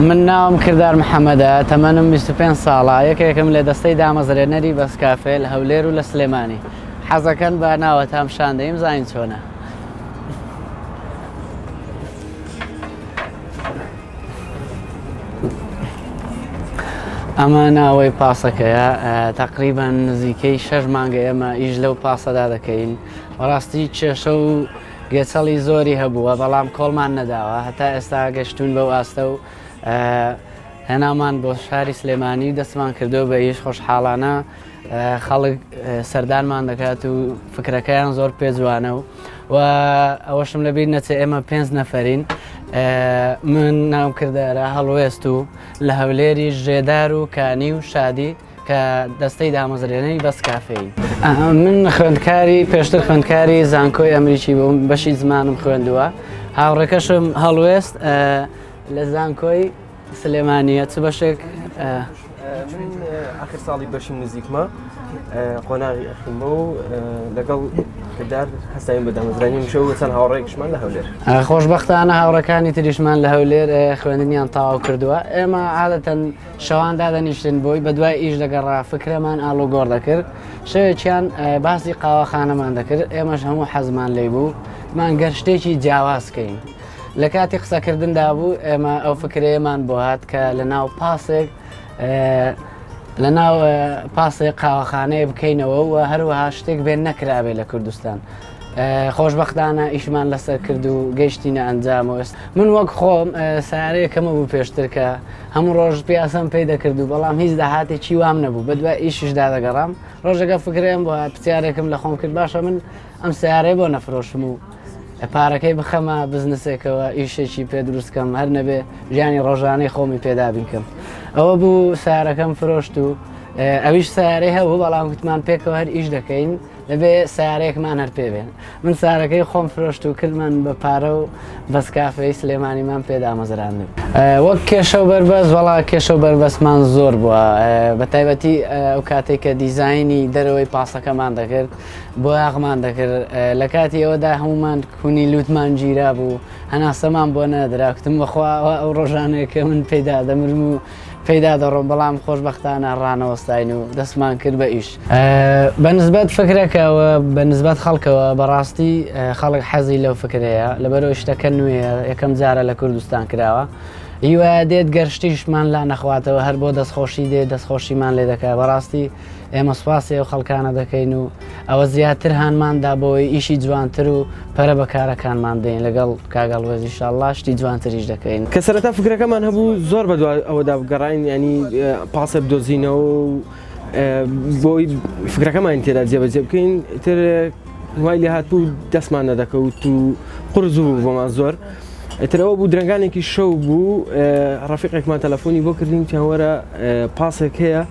من ناوم کردار محەممەدە تەمەنم 25 ساڵە یەکێکم لە دەستەی دامەزرێنەری بەسکافێ لە هەولێر و لە سلێمانی حەزەکەن بە ناوە تام شاندەیم زین چۆنە ئەمە ناوەی پاسەکەیە تقریبان نزیکەی شەش مانگە ئێمە ئیش لەو پاسەدا دەکەین بەڕاستی کێشە و گەچەڵی زۆری هەبووە بەڵام کۆڵمان نەداوە هەتا ئێستا گەشتون بەو ئاستە و هێنامان بۆ شاری سلێمانی دەستمان کردو بە ئیش خۆشحاڵانە خەڵک سەردانمان دەکات و فکرەکەیان زۆر پێجوانە و و ئەوەشم لەبییر نەچێ ئێمە پێنج نەفرین من ناو کردارە هەڵوێست و لە هەولێری ژێدار و کانی و شادی کە دەستەی دامەزرێنەی بەس کافین من خوێندکاری پێشتر خوێندکاری زانکۆی ئەمریکی بووم بەشی زمانم خوێندووە هاوڕێکەشم هەڵوێست لە زانکۆی سلێمانیە چ بەشێک؟ من ئاخر ساڵی بەشی نزیکمە قۆناغی ئەخیمە و لەگەڵ کردار هەستاین بە دامەزرانی مشە و چەند هاوڕێکشمان لە هەولێر خۆشببختانە هاوڕەکانی تریشمان لە هەولێر خوێندنیان تاو کردووە ئێمە عادەتەن شەوان دادەنیشتن بۆی بە دوای ئیش دەگەڕا فکرەمان ئالو گۆڕ دەکرد شەوێکیان باسی قاوەخانەمان دەکرد ئێمەش هەموو حەزمان لی بوو مان گەر شتێکی جیاوازکەین. لە کاتی قسەکردندا بوو ئێمە ئەو فکرەیەمان بۆ هات کە لە ناو پاسێک لە ناو پاسێک قاوەخانەیە بکەینەوە و هەروەها شتێک بێن نەکرابێ لە کوردستان. خۆشببختانە ئیشمان لەسەر کرد و گەیشتینە ئەنجامەوەست من وەک خۆم سارەیەکەمە بوو پێشترکە هەموو ڕۆژ پیاسم پێی دەکرد و بەڵام هیچ داهاتێکی وام نەبوو بە دوای ئیششدا دەگەڕام ڕۆژەکە فکرێن بۆ پرسیارێکم لە خۆم کرد باشە من ئەم سیارەیە بۆ نەفرۆشم و پارەکەی بخەمە بزنسێکەوە ئیشێکی پێ دروستکەم هەر نەبێ ژیانی ڕۆژانەی خۆمی پێدابیکەم ئەوە بوو سارەکەم فرۆشت و ئەویش سارەی هەبوو بەڵام گوتمان پێکەوە هەر ئیش دەکەین دەبێ سارێکمان هەر پێ بێن من سارەکەی خۆم فرۆشت و کردمان بە پارە و بەس کافەی سلێمانیمان پێدامەزراند وەک کێشە و بەربەست وڵا کێشە و بەربەستمان زۆر بووە بە تایبەتی ئەو کاتێک کە دیزایانی دەرەوەی پاسەکەمان دەکرد بۆیاخمان دەکرد لە کاتی ئەوەدا هەمومان کونی لوتمان گیرا بوو هەناسەمان بۆ نەدرا کوتم بەخواوە ئەو ڕۆژانێک کە من پێدا دەمرم و پێدا دەڕۆم بەڵام خۆشببختانە ڕانەوەستاین و دەستمان کرد بە ئیش بە نسبەت فکرەکەەوە بە نسبەت خەڵکەوە بەڕاستی خەڵک حەزی لەو فکرەیە لەبەرەوە شتەکە نوێ یەکەم جارە لە کوردستان کراوە هیوایە دێت گەرشتیشمان لا نەخواتەوە هەر بۆ دەستخۆشی دێت دەستخۆشیمان لێ دەکە بەڕاستی ئێمە سوپاسی ئەو خەڵکانە دەکەین و ئەوە زیاتر هانماندا بۆی ئیشی جوانتر و پەرە بە کارەکانمان دەین لەگەڵ کاگەڵ وێزی شڵاشتی جوانتریش دەکەین. کە سەرەتا فکرەکەمان هەبوو زۆر بە دوای ئەوەدا بگەڕاین ینی پاسێ بدۆزینەوە و بۆی فکرەکەمان تێدا جێبەجێ بکەین تر وای لێ هات بوو دەستمان نەدەکەوت و قرس بوو بۆمان زۆر. ئەترەوە بوو درنگانێکی شەو بوو ڕفیقێکمان تەلەفۆنی بۆ کردین چاوەرە پاسێک هەیە.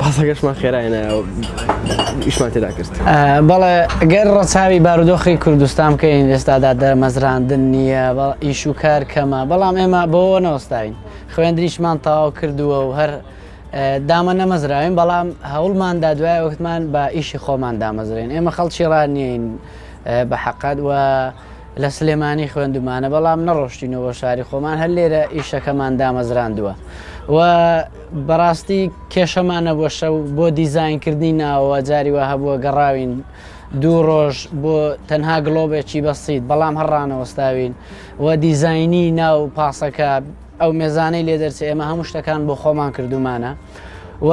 پاسەکەشمان خێرا هێنایەوە ئیشمان تێدا کرد بەڵێ گەر ڕەچاوی بارودۆخی کوردستان بکەین ئێستادا دەرمەزراندن نییە بەڵ ئیش و کار کەمە بەڵام ئێمە بەوە نەوەستاین خوێندریشمان تەواو کردووە و هەر دامە نەمەزراوین بەڵام هەوڵماندا دوای وەختمان بە ئیشی خۆمان دامەزرێن ئێمە خەڵکی ڕانیین بە حقت وە لە سلێمانی خوێندومانە بەڵام نەڕۆشتینەوە بۆ شاری خۆمان هەر لێرە ئیشەکەمان دامەزراندووە و بەڕاستی کێشەمانە بۆ شەو بۆ دیزینکردنی ناوەوە جاری وە هەبووە گەڕاوین دوو ڕۆژ بۆ تەنها گڵۆبێکی بەسییت بەڵام هەڕانەوەستاوین و دیزینی ناو پاسەکە ئەو مێزانەی لێ دەرچ ئێمە هەموو شتەکان بۆ خۆمان کردومانە و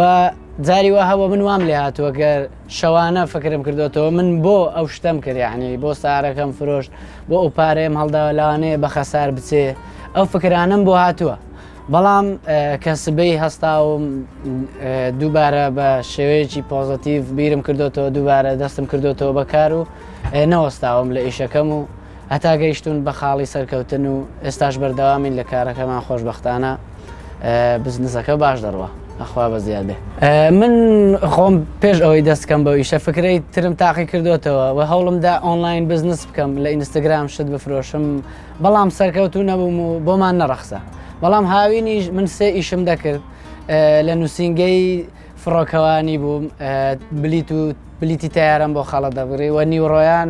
جاری وە هەوە من وام لێ هاتووەگەر شەوانە فکرم کردۆتەوە من بۆ ئەو شتەم کرد یەعنی بۆ سارەکەم فرۆشت بۆ ئەو پارەیەم هەڵداوە لەوانەیە بە خەسار بچێ ئەو فکرانەم بۆ هاتووە بەڵام کە سبەی هەستاوم دووبارە بە شێوەیەکی پۆزەتیڤ بیرم کردوتەوە دووبارە دەستم کردوتەوە بەکار و نەوەستاوم لە ئیشەکەم و هەتا گەیشتوون بە خاڵی سەرکەوتن و ئێستاش بەردەوامین لە کارەکەمان خۆشبەختانە بزنسەکە باش دەڕوا ئەخوا بە زیاد بێ من خۆم پێش ئەوەی دەستکەم بە ئیشە فکرەی ترم تاقی کردوتەوە و هەوڵمدا ئۆنلاین بزنس بکەم لە ئینستاگرام شت بفرۆشم بەڵام سەرکەوتو نەبووم و بۆمان نەڕەخسە بەڵام هاوینیش من سێ ئیشم دەکرد لە نووسنگەی فڕۆکەوانی بووم بلیت و بلیتی تیارم بۆ خەڵە دەبڕی وە نیوڕۆیان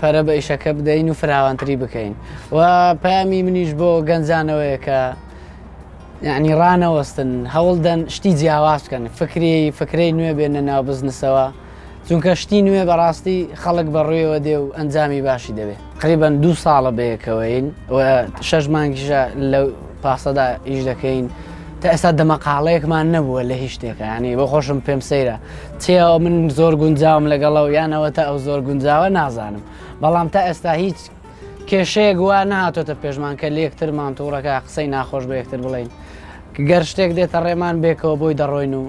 پەرە بە ئیشەکە بدەین و فراوانتری بکەین و پامی منیش بۆ گەنجانەوەیە کە یعنی ڕانەوەستن هەوڵدەن شتی جیاواز بکەن فکری فکرەی نوێ بێنە ناو بزنسەوە چونکە شتی نوێ بەڕاستی خەڵک بەڕوویەوە دێ و ئەنجامی باشی دەبێت قریبان دوو ساڵە بەیەکەوەین و شەش مانگیشە لە پاسەدا ئیش دەکەین تا ئێستا دەمەقاڵەیەکمان نەبووە لە هیچ شتێکانی بۆ خۆشم پێم سەیرە چێەوە من زۆر گونجاوم لەگەڵە و یانەوە تا ئەو زۆر گونجاوە نازانم بەڵام تا ئێستا هیچ کێشەیەک وا نهاتۆتە پێشمان کە لەکترمان تووڕەکە قسەی ناخۆش بە یەکتر بڵین گەر شتێک دێتە ڕێمان بێکەوە بۆی دەڕۆین و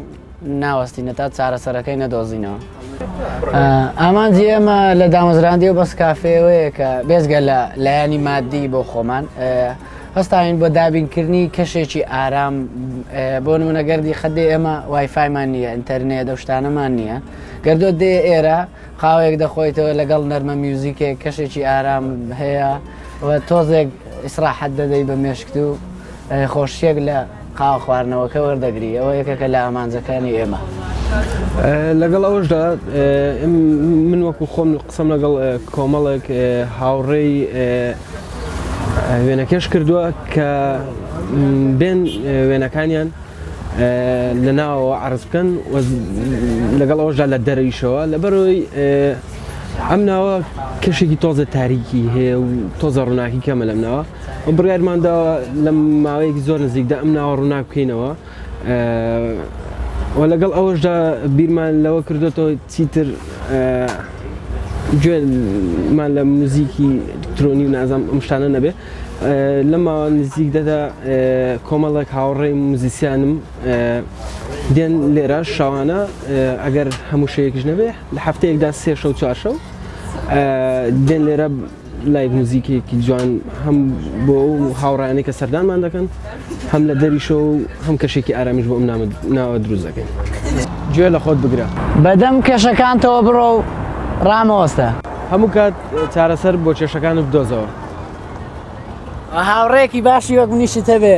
ناوەستینە تا چارەسەرەکەی نەدۆزینەوە ئامانجی ئێمە لە دامەزراندی و بەس کافێەوەیە کە بێزگە لە لایەنی مادی بۆ خۆمان هەستاوین بۆ دابینکردنی کەشێکی ئارام بۆ نمونە گەردی خەدێ ئێمە وایفایمان نییە ئینتەرنێ دەشتانەمان نییە گەردۆ دێ ئێرە قاوەیەک دەخۆیتەوە لەگەڵ نەرمە میوزیکێک کەشێکی ئارام هەیە و تۆزێک ئیسراحەت دەدەی بە مێشکت و خۆشیەک لە قاوە خواردنەوەکە وەردەگری ئەوە یەکەکە لە ئامانجەکانی ئێمە لەگەڵ ئەوشدا من وەکو خۆم قسەم لەگەڵ کۆمەڵێک هاوڕێی وێنەکێش کردووە کە بێن وێنەکانیان لە ناوەوە عرض بکەن لەگەڵ ئەوەشدا لە دەرەویشەوە لەبەرەوەی ئەم ناوە کەشێکی تۆزە تاریکی هەیە و تۆزە ڕووناکی کەمە لەم ناوە و بڕارماندا لە ماوەیەکی زۆر نزیکدا ئەم ناوە ڕووناک بکەینەوە و لەگەڵ ئەوەشدا بیرمان لەوە کردوێتەوە چیتر گوێ مان لە موزیکی ترۆنی و نازام ئەم شتانە نەبێ لە ماوە نزیک دەدا کۆمەڵێک هاوڕێی موزیسیانم دێن لێرە شەوانە ئەگەر هەموو شەیەکش نەبێ لە هەفتەیەکدا سێ شەو چوارشەو دێن لێرە لایڤ موزیکێکی جوان هەم بۆ ئەو هاوڕیانەی کە سەردانمان دەکەن هەم لە دەریشەوە و هەم کەشێکی ئارامیش بۆ ئەم ناوە دروست دەکەین. گوێ لە خۆت بگرە. بەدەم کێشەکانتەوە بڕۆ و ڕامەوەستە. هەموو کات چارەسەر بۆ کێشەکانت بدۆزەوە. هاوڕێیەکی باشی وەک منیشت هەبێ.